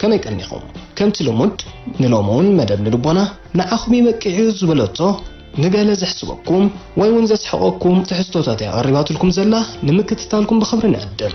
ከመይ ቀኒኹም ከምቲ ልሙድ ንሎሚ ውን መደብ ንልቦና ንዓኹም ይበቂዕ'ዩ ዝበለቶ ንገለ ዘሕስበኩም ወይ ውን ዘስሕቐኩም ትሕዝቶታት እያ ቀሪባትልኩም ዘላ ንምክትታልኩም ብኽብሪ ንዕድም።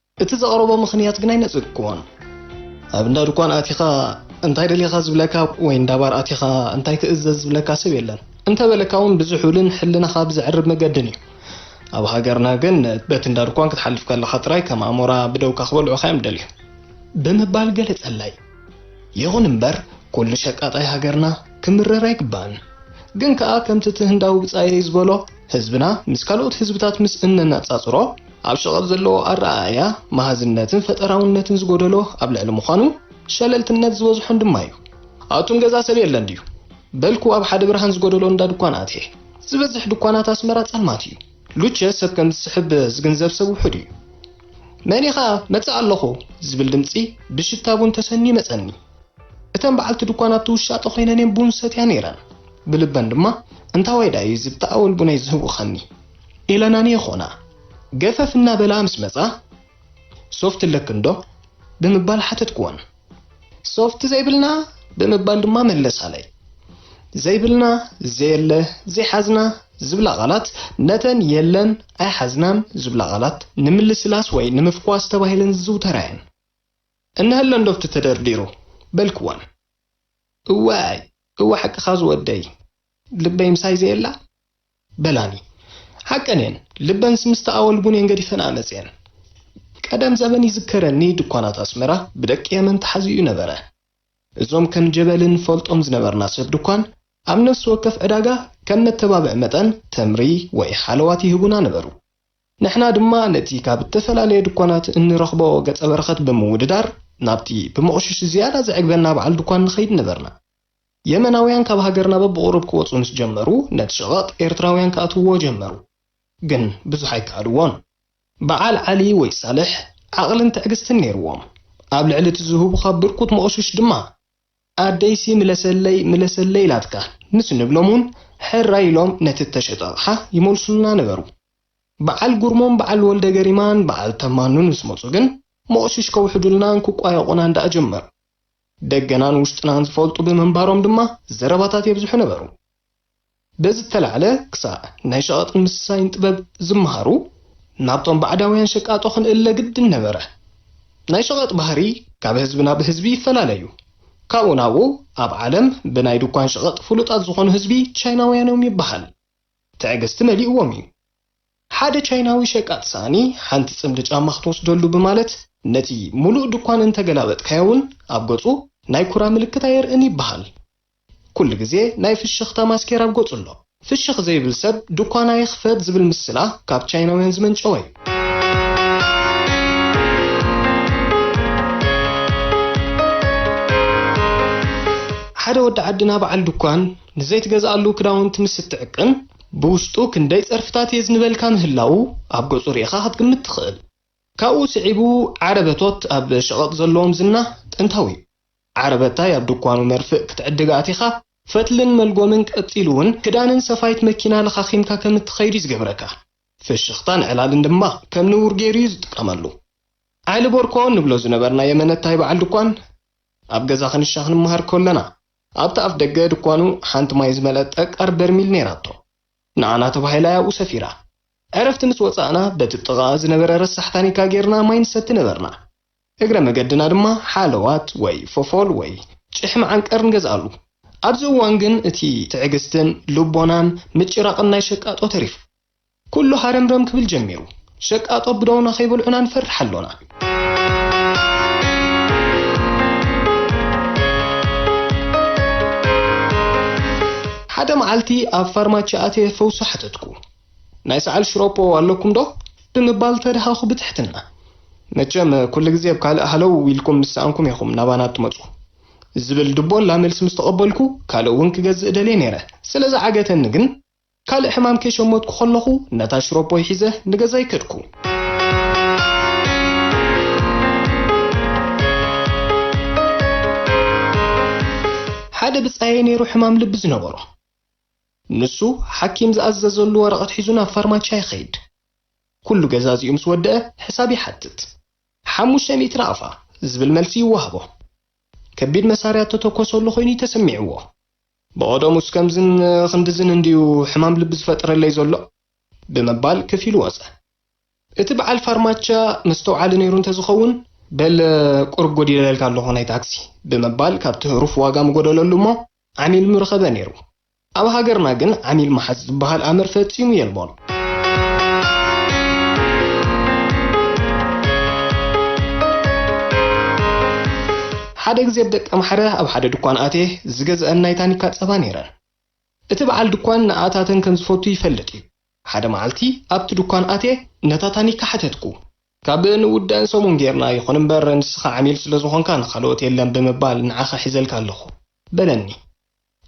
እቲ ዘቕረቦ ምኽንያት ግን ኣይነጸግክዎን። ኣብ እንዳ ድኳን ኣቲኻ እንታይ ደሊኻ ዝብለካ ወይ እንዳ ባር ኣቲኻ እንታይ ክእዘዝ ዝብለካ ሰብ የለን። እንተ በለካውን ብዝሑልን ሕልናኻ ብዘዕርብ መገድን እዩ። ኣብ ሃገርና ግን በቲ እንዳ ድኳን ክትሓልፍ ከለኻ ጥራይ ከም ኣሞራ ብደውካ ክበልዑኻ'ዮም ዝደልዩ። ብምባል ገለጸለይ። ይኹን እምበር ኩሉ ሸቃጣይ ሃገርና ክምረር ኣይግባእን። ግን ከኣ ከምቲ እቲ ህንዳዊ ብጻየይ ዝበሎ፣ ህዝብና ምስ ካልኦት ህዝብታት ምስ እነነጻጽሮ፣ ኣብ ሸቐጥ ዘለዎ ኣረኣእያ፣ መሃዝነትን ፈጠራውነትን ዝጎደሎ ኣብ ልዕሊ ምዃኑ፣ ሸለልትነት ዝበዝሖን ድማ እዩ። ኣቱም ገዛ ሰብ የለን ድዩ? በልኩ ኣብ ሓደ ብርሃን ዝጎደሎ እንዳ ድኳን ኣትየ። ዝበዝሕ ድኳናት ኣስመራ ጸልማት እዩ። ሉቸ ሰብ ከም ዝስሕብ ዝግንዘብ ሰብ ውሑድ እዩ። መን ኢኻ? መጽእ ኣለኹ! ዝብል ድምጺ ብሽታ ቡን ተሰንዩ መጸኒ። እተን በዓልቲ ድኳን ኣብቲ ውሻጠ ዀይነን እየን ቡን ዝሰትያ ነይረን። ብልበን ድማ፣ እንታዋይ ደኣ እዩ እዚ ብተኣወል ቡነይ ዝህውኸኒ? ኢለን ኣንየኾና። ገፈፍ እናበላ ምስ መጻ፣ ሶፍቲ ኣለክንዶ? ብምባል ሓተትክወን። ሶፍቲ ዘይብልና? ብምባል ድማ መለሳለይ። ዘይብልና፣ ዘየለ፣ ዘይሓዝና ዝብላ ቓላት ነተን የለን፣ ኣይሓዝናን ዝብላ ቓላት ንምልስላስ ወይ ንምፍኳስ ተባሂለን ዝዝውተራ እየን። እንሀሎ እንዶ ኣብቲ ተደርዲሩ በልክወን እዋይ እወ ሓቅኻ ዝወደይ ልበይ ምሳይ ዘየላ በላኒ ሓቀን እየን ልበንስ ምስ ተኣወልጉን እየን ገዲፈንኣ መጺኤን ቀደም ዘበን ይዝከረኒ ድኳናት ኣስመራ ብደቂ የመን ተሓዚኡ ነበረ እዞም ከም ጀበሊ ንፈልጦም ዝነበርና ሰብ ድኳን ኣብ ነፍሲ ወከፍ ዕዳጋ ከም መተባብዒ መጠን ተምሪ ወይ ሓለዋት ይህቡና ነበሩ ንሕና ድማ ነቲ ካብ እተፈላለየ ድኳናት እንረኽቦ ገጸ በረኸት ብምውድዳር፣ ናብቲ ብምቝሽሽ ዝያዳ ዜዕግበና በዓል ድኳን ንኸይድ ነበርና። የመናውያን ካብ ሃገርና በብቝሩብ ኪወጹ ምስ ጀመሩ፣ ነቲ ሸቐጥ ኤርትራውያን ኪኣትውዎ ጀመሩ። ግን ብዙሕ ኣይከኣልዎን። በዓል ዓሊ ወይ ሳልሕ ዓቕልን ትዕግስትን ነይርዎም። ኣብ ልዕሊ እቲ ዚህቡኻ ብርኩት ምቝሽሽ ድማ፣ ኣደይሲ ምለሰለይ፣ ምለሰለይ ኢላትካ ምስ ንብሎም እውን፣ ሕራይ ኢሎም ነቲ እተሸጠ ኣቕሓ ይመልሱልና ነበሩ። በዓል ጉርሞን በዓል ወልደገሪማን በዓል ተማንን ምስ መጹ ግን ሞቕሽሽ ከውሕዱልናን ክቋየቑናን ደኣ ጀመሩ። ደገናን ውሽጥናን ዝፈልጡ ብምንባሮም ድማ ዘረባታት የብዝሑ ነበሩ። በዚ እተላዕለ ክሳዕ ናይ ሸቐጥን ምስሳይን ጥበብ ዝመሃሩ ናብቶም ባዕዳውያን ሸቃጦ ክንእለ ግድን ነበረ። ናይ ሸቐጥ ባህሪ ካብ ህዝቢ ናብ ህዝቢ ይፈላለ እዩ። ካብኡ ናብኡ ኣብ ዓለም ብናይ ድኳን ሸቐጥ ፍሉጣት ዝኾኑ ህዝቢ ቻይናውያን እዮም ይበሃል። ትዕግስቲ መሊእዎም እዩ። ሓደ ቻይናዊ ሸቃጢ ሳእኒ ሓንቲ ጽምዲ ጫማ ክትወስደሉ ብማለት ነቲ ምሉእ ድኳን እንተ ገላበጥካዮ እውን ኣብ ገጹ ናይ ኩራ ምልክት ኣየርእን ይበሃል። ኩሉ ግዜ ናይ ፍሽኽታ ማስኬራ ኣብ ገጹ ኣሎ። ፍሽኽ ዘይብል ሰብ ድኳን ኣይኽፈት ዝብል ምስላ ካብ ቻይናውያን ዝመንጨወ እዩ። ሓደ ወዲ ዓድና በዓል ድኳን፣ ንዘይትገዝኣሉ ክዳውንቲ ምስ እትዕቅን፣ ብውሽጡ ክንደይ ጸርፍታት የዝንበልካ ምህላዉ ኣብ ገጹ ርኢኻ ክትግምት ትኽእል። ካብኡ ስዒቡ ዓረበቶት ኣብ ሸቐጥ ዘለዎም ዝና ጥንታዊ'ዩ። ዓረበታይ ኣብ ድኳኑ መርፍእ ክትዕድግ ኣቲኻ፣ ፈትልን መልጎምን ቀጺሉ'ውን ክዳንን ሰፋይት መኪና ለኻኺምካ ከም እትኸይድ'ዩ ዝገብረካ። ፍሽኽታን ዕላልን ድማ ከም ንቡር ገይሩ'ዩ ዝጥቀመሉ። ዓሊ ቦርኮ እንብሎ ዝነበርና የመነታይ በዓል ድኳን፣ ኣብ ገዛ ክንሻ ክንመሃር ከሎና፣ ኣብቲ ኣፍ ደገ ድኳኑ ሓንቲ ማይ ዝመልኣት ጠቃር በርሚል ነይራቶ። ንዓና ተባሂላ እያ ኣብኡ ሰፊራ። ዕረፍቲ ምስ ወጻእና በቲ ጥቓኣ ዝነበረ ረሳሕ ታኒካ ጌርና ማይ ንሰቲ ነበርና። እግረ መገድና ድማ ሓለዋት ወይ ፎፎል ወይ ጭሕሚ ዓንቀር ንገዝኣሉ። ኣብዚ እዋን ግን እቲ ትዕግስትን ልቦናን ምጭራቕን ናይ ሸቃጦ ተሪፉ። ኩሉ ሃረምረም ክብል ጀሚሩ። ሸቃጦ ብደውና ከይበልዑና ንፈርሕ ኣሎና። ሓደ መዓልቲ ኣብ ፋርማቺ ኣትየ ፈውሲ ሓተትኩ። ናይ ሰዓል ሽሮፖ ኣለኩም ዶ? ብምባል ተደሃኹ ብትሕትና። መቸም ኩሉ ግዜ ብ ካልእ ሃለው ኢልኩም ምስ ሰኣንኩም ኢኹም ናባና እትመጹ። ዝብል ድቦላ መልሲ ምስ ተቐበልኩ፣ ካልእ እውን ክገዝእ ደልየ ነይረ። ስለ ዝዓገተኒ ግን። ካልእ ሕማም ከይሸመትኩ ከለኹ ነታ ሽሮፖይ ሒዘ ንገዛይ ከድኩ። ሓደ ብጻየይ ነይሩ ሕማም ልቢ ዝነበሮ። ንሱ ሓኪም ዝኣዘዘሉ ወረቐት ሒዙ ናብ ፋርማቻ ይኸይድ። ኩሉ ገዛዚኡ ምስ ወደኣ ሕሳብ ይሓትት። ሓሙሽተ ሚእቲ ናቕፋ ዝብል መልሲ ይወሃቦ። ከቢድ መሳርያ እተተኮሰሉ ኮይኑ እዩ ተሰሚዕዎ። ብቐደሙስ ከምዝን ክንድዝን እንድዩ ሕማም ልቢ ዝፈጥረለይ ዘሎ? ብምባል ክፍ ኢሉ ወጸ። እቲ በዓል ፋርማቻ መስተውዓሊ ነይሩ እንተዝኸውን፣ በል ቁሩብ ጎዲለልካ ኣለኹ ናይ ታክሲ፣ ብምባል ካብቲ ህሩፍ ዋጋ ምጎደለሉ እሞ ዓሚል ምረኸበ ነይሩ። ኣብ ሃገርና ግን ዓሚል ምሓዝ ዝበሃል ኣምር ፈጺሙ የልቦን። ሓደ ግዜ ብ ደቂ ኣምሓረ ኣብ ሓደ ድኳን ኣትየ ዝገዝኣን ናይ ታኒካ ጸባ ነይረን። እቲ በዓል ድኳን ንኣኣታተን ከም ዝፈቱ ይፈልጥ እዩ። ሓደ መዓልቲ ኣብቲ ድኳን ኣትየ ነታ ታኒካ ሓተትኩ። ካብ ንውዳእን ሰሙን ጌርና፣ ይኹን እምበር ንስኻ ዓሚል ስለ ዝኾንካ ንኻልኦት የለን ብምባል ንዓኻ ሒዘልካ ኣለኹ። በለኒ።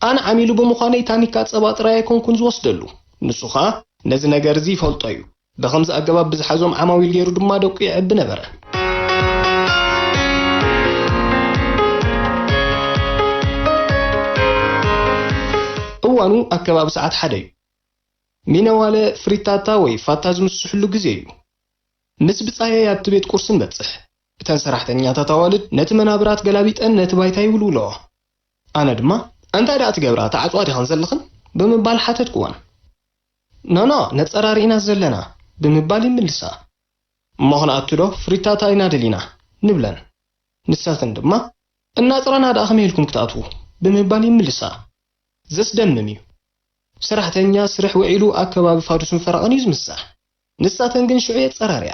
ኣነ ዓሚሉ ብምዃነይ ታኒካ ጸባ ጥራይ ኣይኮንኩን ዝወስደሉ። ንሱ ከኣ ነዚ ነገር'ዚ ይፈልጦ እዩ። ብኸምዚ ኣገባብ ብዝሓዞም ዓማዊል ገይሩ ድማ ደቁ የዕቢ ነበረ። እዋኑ ኣብ ከባቢ ሰዓት ሓደ እዩ። ሚነዋለ ፍሪታታ ወይ ፋታ ዝምስስሕሉ ግዜ እዩ። ምስ ብጻየይ ኣብቲ ቤት ቁርሲ ንበጽሕ። እተን ሰራሕተኛታት ኣዋልድ ነቲ መናብራት ገላቢጠን ነቲ ባይታ ይውልውለኦ። ኣነ ድማ ኣንታይ ደኣ ትገብራ ተዓጽዋ ዲኽን ዘለኽን ብምባል ሓተትኩወን። ኖኖ ነጸራሪ ኢና ዘለና ብምባል ይምልሳ። እሞ ክንኣቱ ዶ ፍሪታታ ኢና ደሊና ንብለን። ንሰኽን ድማ እናጽረና ደኣ ከመይ ኢልኩም ክትኣትዉ ብምባል ይምልሳ። ዘስደምም እዩ። ሰራሕተኛ ስርሕ ውዒሉ ኣብ ከባቢ ፋዱስን ፈረቓን እዩ ዝምሳሕ። ንሳተን ግን ሽዑ የጸራርያ።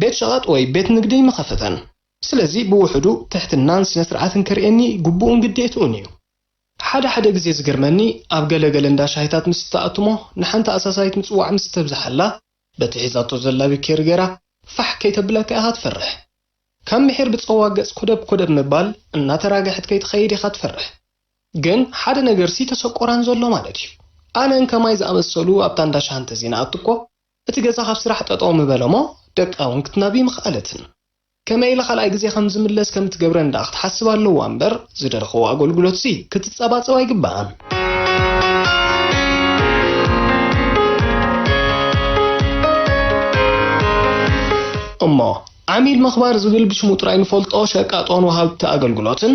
ቤት ሸቐጥ ወይ ቤት ንግደይ ምኸፈተን። ስለዚ ብውሑዱ ትሕትናን ስነስርዓትን ከርእየኒ ግቡእን ግዴትኡን እዩ። ሓደ ሓደ ግዜ ዝገርመኒ ኣብ ገለ ገለ እንዳ ሻሂታት ምስ እትኣቱ'ሞ ንሓንቲ ኣሳሳይት ምጽዋዕ ምስ እተብዝሓላ በቲ ሒዛቶ ዘላ ቢኬሪ ገይራ ፋሕ ከይተብለካ ኢኻ ትፈርሕ። ካብ ምሒር ብጸዋ ገጽ ኮደብ ኮደብ ምባል እናተራገሐት ከይትኸይድ ኢኻ ትፈርሕ። ግን ሓደ ነገርሲ ተሰቆራን ዘሎ ማለት እዩ። ኣነን ከማይ ዝኣመሰሉ ኣብታ እንዳ ሻሂ እንተዘይንኣቱ'ኮ፣ እቲ ገዛ ካብ ስራሕ ጠጠው ምበለ'ሞ ደቃ ውን ክትናቢ ምኽኣለትን። ከመይ ኢላ ካልኣይ ግዜ ከም ዝምለስ ከም እትገብረን ደኣ ክትሓስብ ኣለዋ እምበር ዝደለኸዎ ኣጎልጉሎትሲ ክትጸባጸብ ኣይግበኣን። እሞ ዓሚል ምኽባር ዝብል ብሽሙ ጥራይ ንፈልጦ ሸቃጦን ወሃብቲ ኣገልግሎትን፣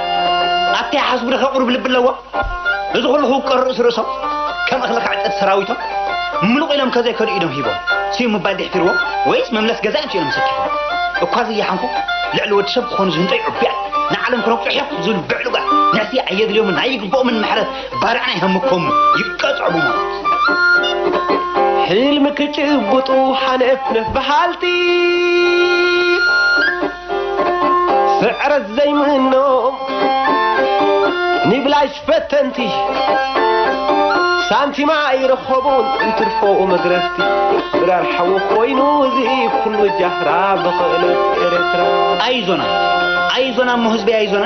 ኣታ ይሓስቡ ደኸ ቁሩብ ልቢ ኣለዎም እዚ ኩሉ ክውቀር ርእሲ ርእሶም ከም እኽሊ ክዕጸድ ሰራዊቶም ምሉቕ ኢሎም ከዘይከዱ ኢዶም ሂቦም ስዩ ምባል ድሕፊርዎ ወይስ መምለስ ገዛ እንት ኢሎም ሰኪፎም እኳ ዘየሓንኩ ልዕሊ ወዲ ሰብ ክኾኑ ዝህንጠዩ ዕቡያት ንዓለም ክነቁሑ ሕቕ ዝብሉ ብዕሉጋት ንሕሲ ኣየድልዮምን ኣይግብኦምን ምሕረት ባርዕና ይሃምኮሙ ይቀጽዑ ብሞት ሕልሚ ክጭብጡ ሓነፍነፍ በሃልቲ ስዕረት ዘይምኖም ንብላሽ ፈተንቲ ሳንቲም ኣይረኸቡን እንትርፎኡ መግረፍቲ ድራር ሓዊ ኮይኑ እዚ ኩሉ ጃህራ ብኽእለት ኤርትራ ኣይዞና ኣይዞና እሞ ህዝበይ ኣይዞና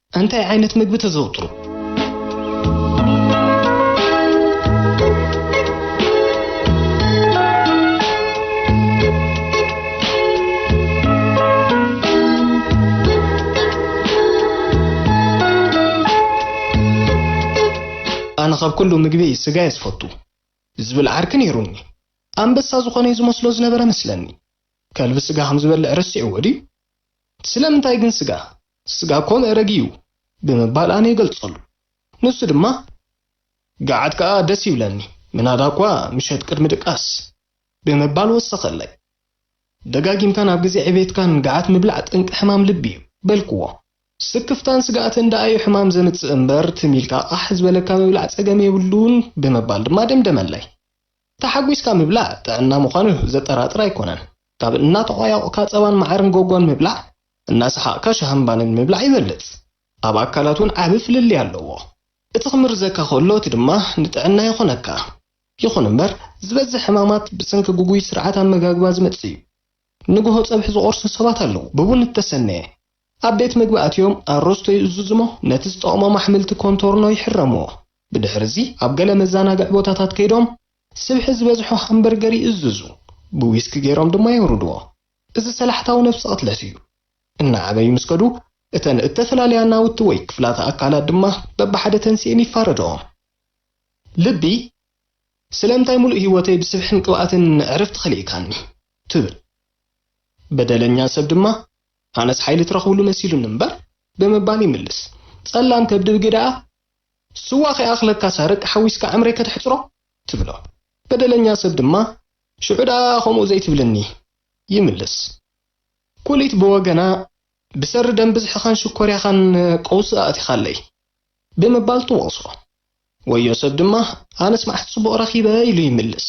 እንታይ ዓይነት ምግቢ ተዘውትሩ? ኣነ ካብ ኩሉ ምግቢ ስጋ እየ ዝፈቱ ዝብል ዓርኪ ነይሩኒ። ኣንበሳ ዝኾነ እዩ ዝመስሎ ዝነበረ መስለኒ። ከልቢ ስጋ ከም ዝበልዕ ረሲዕዎ ድዩ? ስለምንታይ ግን ስጋ? ስጋ ኮን እረግ እዩ ብምባል ኣነ ይገልጸሉ ንሱ ድማ ገዓት ከኣ ደስ ይብለኒ ምናዳ'ኳ ምሸት ቅድሚ ድቃስ ብምባል ወሰኸለይ። ደጋጊምካ ናብ ግዜ ዕቤትካን ገዓት ምብላዕ ጠንቂ ሕማም ልቢ እዩ በልክዎ። ስክፍታን ስግኣትን ደኣ እዩ ሕማም ዘምጽእ እምበር ትም ኢልካ ቓሕ ዝበለካ ምብላዕ ጸገም የብሉን ብምባል ድማ ደምደመለይ። ተሓጒስካ ምብላዕ ጥዕና ምዃኑ ዘጠራጥር ኣይኮነን ካብ እናተቖያቑካ ጸባን መዓርን ጎጎን ምብላዕ እናሰሓቕካ ሻህን ባንን ምብላዕ ይበልጽ። ኣብ ኣካላት እውን ዓቢ ፍልልይ ኣለዎ። እቲ ክምርዘካ ከሎ እቲ ድማ ንጥዕና ይኾነካ። ይኹን እምበር ዝበዝሕ ሕማማት ብሰንኪ ግጉይ ስርዓት ኣመጋግባ ዝመጽእ እዩ። ንግሆ ጸብሒ ዝቖርሱ ሰባት ኣለዉ፣ ብቡን እተሰነየ። ኣብ ቤት መግቢ ኣትዮም ኣሮስቶ ይእዝዙ እሞ ነቲ ዝጠቕሞም ኣሕምልቲ ኮንቶርኖ ይሕረምዎ። ብድሕሪ እዚ ኣብ ገለ መዛናግዒ ቦታታት ከይዶም ስብሒ ዝበዝሖ ሃምበርገር ይእዝዙ፣ ብዊስኪ ገይሮም ድማ የውርድዎ። እዚ ሰላሕታዊ ነብሰ ቅትለት እዩ። እናዓበዩ ምስ ከዱ፣ እተን እተፈላለያ ናውቲ ወይ ክፍላተ ኣካላት ድማ በብሓደ ተንሲኤን ይፋረደኦም። ልቢ፣ ስለምንታይ ምሉእ ህይወተይ ብስብሕን ቅብኣትን ዕረፍቲ ኸሊእካኒ? ትብል። በደለኛ ሰብ ድማ፣ ኣነስ ሓይሊ ትረኽብሉ መሲሉኒ እምበር፣ ብምባል ይምልስ። ጸላም ከብዲ ግደኣ፣ ስዋ ኸይኣኽለካስ ኣረቂ ሓዊስካ ዕምረይ ከተሕጽሮ? ትብሎ። በደለኛ ሰብ ድማ፣ ሽዑ ደኣ ከምኡ ዘይትብልኒ? ይምልስ። ኩሊት ብወገና፣ ብሰሪ ደም ብዝሕኻን ሽኮርያኻን ቀውሲ ኣእቲኻለይ። ብምባል ትወቕሶ። ወዮ ሰብ ድማ፣ ኣነስ መዓስ ጽቡቕ ረኺበ? ኢሉ ይምልስ።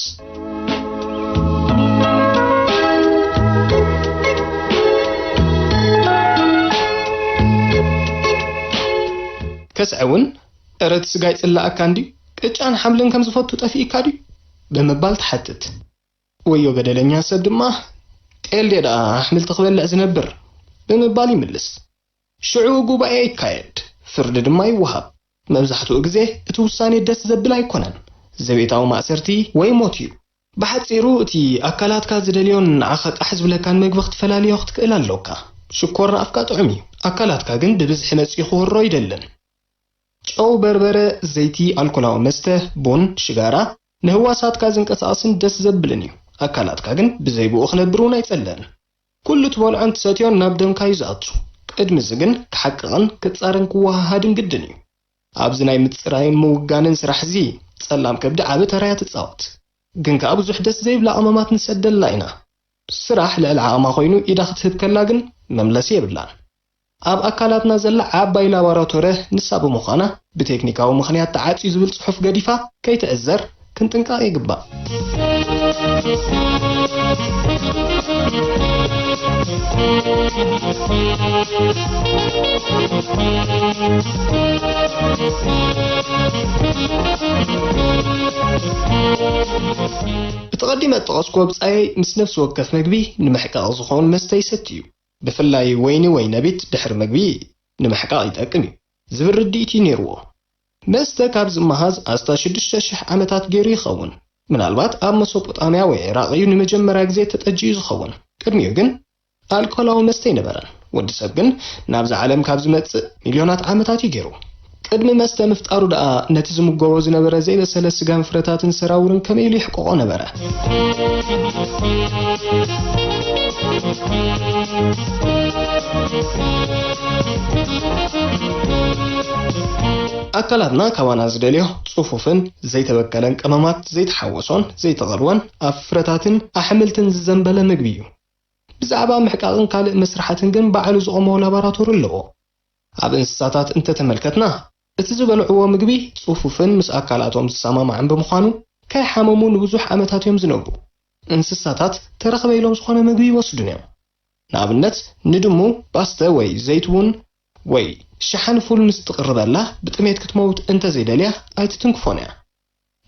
ከስዐ እውን፣ እረ እቲ ስጋ ይጽልኣካ እንድዩ፣ ቅጫን ሓምልን ከም ዝፈቱ ጠፊኡካ ድዩ? ብምባል ትሓትት። ወዮ በደለኛ ሰብ ድማ፣ ጤል ድየ ደኣ ኣሕምልቲ ክበልዕ ዝነብር? ብምባል ይምልስ። ሽዑ ጉባኤ ይካየድ፣ ፍርዲ ድማ ይወሃብ። መብዛሕትኡ ግዜ እቲ ውሳኔ ደስ ዘብል ኣይኮነን፣ ዘቤታዊ ማእሰርቲ ወይ ሞት እዩ። ብሓጺሩ እቲ ኣካላትካ ዝደልዮን ንዓኻ ቃሕ ዝብለካን መግቢ ክትፈላልዮ ክትክእል ኣሎካ። ሽኮር ንኣፍካ ጥዑም እዩ፣ ኣካላትካ ግን ብብዝሒ መጺኡ ክወሮ ኣይደልን። ጨው፣ በርበረ፣ ዘይቲ፣ ኣልኮላዊ መስተ፣ ቡን፣ ሽጋራ፣ ንህዋሳትካ ዘንቀሳቕስን ደስ ዘብልን እዩ። ኣካላትካ ግን ብዘይብኡ ክነብር እውን ኣይጸልእን። ኩሉ ትበልዖን ትሰትዮን ናብ ደምካ እዩ ዝኣቱ። ቅድሚ እዚ ግን ክሓቅቕን ክጻረን ክወሃሃድን ግድን እዩ። ኣብዚ ናይ ምጽራይን ምውጋንን ስራሕ እዚ ጸላም ከብዲ ዓቢ ተራ እያ ትጻወት። ግን ከኣ ብዙሕ ደስ ዘይብላ ቀመማት ንሰደላ ኢና። ስራሕ ልዕሊ ዓቕማ ኮይኑ ኢዳ ክትህብ ከላ ግን መምለሲ የብላን። ኣብ ኣካላትና ዘላ ዓባይ ላባራቶረ ንሳ ብምዃና ብቴክኒካዊ ምኽንያት ተዓጽዩ ዝብል ጽሑፍ ገዲፋ ከይትዕዘር ክንጥንቀቕ ይግባእ። እቲ ቀዲመ እጠቐስኩዎ ብጻየይ ምስ ነፍሲ ወከፍ መግቢ ንመሕቀቒ ዝኸውን መስተ ይሰቲ እዩ። ብፍላይ ወይኒ ወይ ነቢት ድሕሪ ምግቢ ንምሕቃቕ ይጠቅም እዩ ዝብል ርድኢት'ዩ ነይርዎ። መስተ ካብ ዝመሃዝ ኣስታት ሽዱሽተ ሽሕ ዓመታት ገይሩ ይኸውን። ምናልባት ኣብ መሶጶጣምያ ወይ ዒራቕ እዩ ንመጀመርያ ግዜ ተጠጅዩ ዝኸውን። ቅድሚኡ ግን ኣልኮላዊ መስተ ኣይነበረን። ወዲ ሰብ ግን ናብዛ ዓለም ካብ ዝመጽእ ሚልዮናት ዓመታት እዩ ገይሩ። ቅድሚ መስተ ምፍጣሩ ደኣ ነቲ ዝምገቦ ዝነበረ ዘይበሰለ ስጋን ፍረታትን ሰራውርን ከመይ ኢሉ የሕቅቖ ነበረ? ኣካላትና ካባና ዝደልዮ ጽፉፍን ዘይተበከለን ቀመማት ዘይተሓወሶን ዘይተቐልወን ኣብ ፍረታትን ኣሕምልትን ዝዘንበለ ምግቢ እዩ። ብዛዕባ ምሕቃቕን ካልእ መስርሓትን ግን ባዕሉ ዝቖሞ ላባራቶሪ ኣለዎ። ኣብ እንስሳታት እንተተመልከትና፣ እቲ ዝበልዕዎ ምግቢ ጽፉፍን ምስ ኣካላቶም ዝሰማማዕን ብምዃኑ፣ ከይሓመሙ ንብዙሕ ዓመታት እዮም ዝነብሩ። እንስሳታት ተረኽበ ኢሎም ዝኾነ ምግቢ ይወስዱን እዮም። ንኣብነት ንድሙ ፓስተ ወይ ዘይት ቡን ወይ ሸሓኒ ፉል ምስ ትቕርበላ ብጥሜት ክትመውት እንተዘይደልያ ኣይትትንክፎን እያ።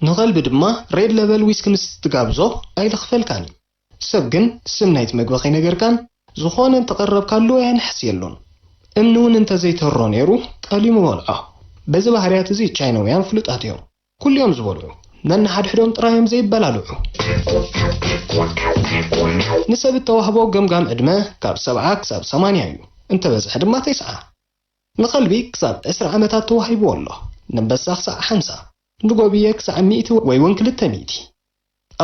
ንኸልቢ ድማ ሬድ ለበል ዊስኪ ምስ ትጋብዞ ኣይልኽፈልካን እዩ። ሰብ ግን ስም ናይቲ መግቢ ከይነገርካን ዝኾነ እንተቐረብካሉ ኣየንሕስ የሎን። እምኒ ውን እንተዘይተሮ ነይሩ ጠሊሙ በልዖ። በዚ ባህርያት እዚ ቻይነውያን ፍሉጣት እዮም። ኩሉ እዮም ዝበልዑ። ነንሓድሕዶም ጥራይ እዮም ዘይበላልዑ። ንሰብ እተዋህቦ ገምጋም ዕድመ ካብ ሰብዓ ክሳብ ሰማንያ እዩ። እንተበዝሐ ድማ ተስዓ። ንኸልቢ ክሳብ ዕስራ ዓመታት ተዋሂብዎ ኣሎ። ነንበሳ ክሳዕ ሓምሳ። ንጎብየ ክሳዕ ሚእቲ ወይ ውን ክልተ ሚእቲ።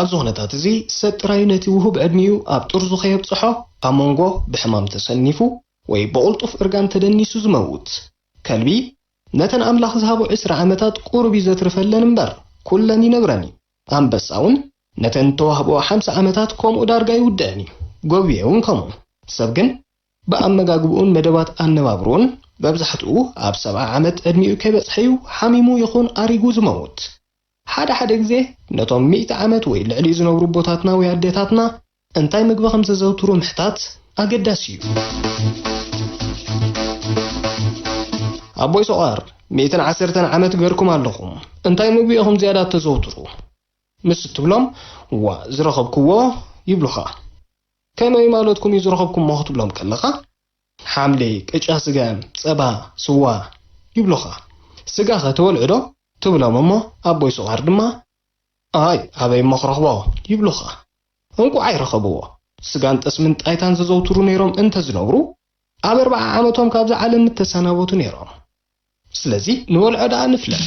ኣብዚ ኩነታት እዚ ሰብ ጥራይ ነቲ ውሁብ ዕድሚኡ ኣብ ጥርዙ ከየብጽሖ ኣብ መንጎ ብሕማም ተሰኒፉ ወይ ብቕልጡፍ እርጋን ተደኒሱ ዝመውት ከልቢ ነተን ኣምላኽ ዝሃቦ ዕስራ ዓመታት ቁሩብ እዩ ዘትርፈለን እምበር ኩለን ይነብረን እዩ። ኣንበሳ ውን ነተን እተዋህብኦ ሓምሳ ዓመታት ከምኡ ዳርጋ ይውድኣን እዩ። ጎብየ ውን ከምኡ። ሰብ ግን ብኣመጋግብኡን መደባት ኣነባብርኡን መብዛሕትኡ ኣብ ሰብዓ ዓመት ዕድሚኡ ከይበጽሐ'ዩ ሓሚሙ ይኹን ኣሪጉ ዝመውት። ሓደ ሓደ ግዜ ነቶም ሚእቲ ዓመት ወይ ልዕሊኡ ዝነብሩ ኣቦታትና ወይ ኣዴታትና እንታይ ምግቢ ከም ዘዘውትሩ ምሕታት ኣገዳሲ'ዩ። ኣቦይ ሰቋር ሚእትን ዓሰርተን ዓመት ገርኩም ኣለኹም እንታይ ምግቢ ኢኹም ዝያዳ እተዘውትሩ? ምስ እትብሎም ዋእ ዝረኸብክዎ ይብሉኻ። ከመይ ማለትኩም እዩ ዝረኸብኩሞ ክትብሎም ከለኻ፣ ሓምሊ፣ ቅጫ ስገም፣ ጸባ፣ ስዋ ይብሉኻ። ስጋኸ ትበልዕዶ? ትብሎም እሞ ኣቦይ ስቋር ድማ፣ ኣይ ኣበይ እሞ ክረኽቦ? ይብሉኻ። እንቋዓይ ረኸብዎ። ስጋን ጠስምን ጣይታን ዘዘውትሩ ነይሮም እንተ ዝነብሩ፣ ኣብ ኣርብዓ ዓመቶም ካብዛ ዓለም ምተሰናበቱ ነይሮም። ስለዚ ንበልዖ ደኣ ንፍለጥ።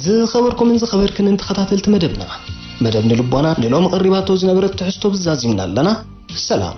ዝኸበርኩምን ዝኸበርክንን ተኸታተልቲ መደብና መደብ ንልቦና ንሎሚ ቀሪባቶ ዝነበረት ትሕዝቶ ዛዚምና ኣለና። ሰላም።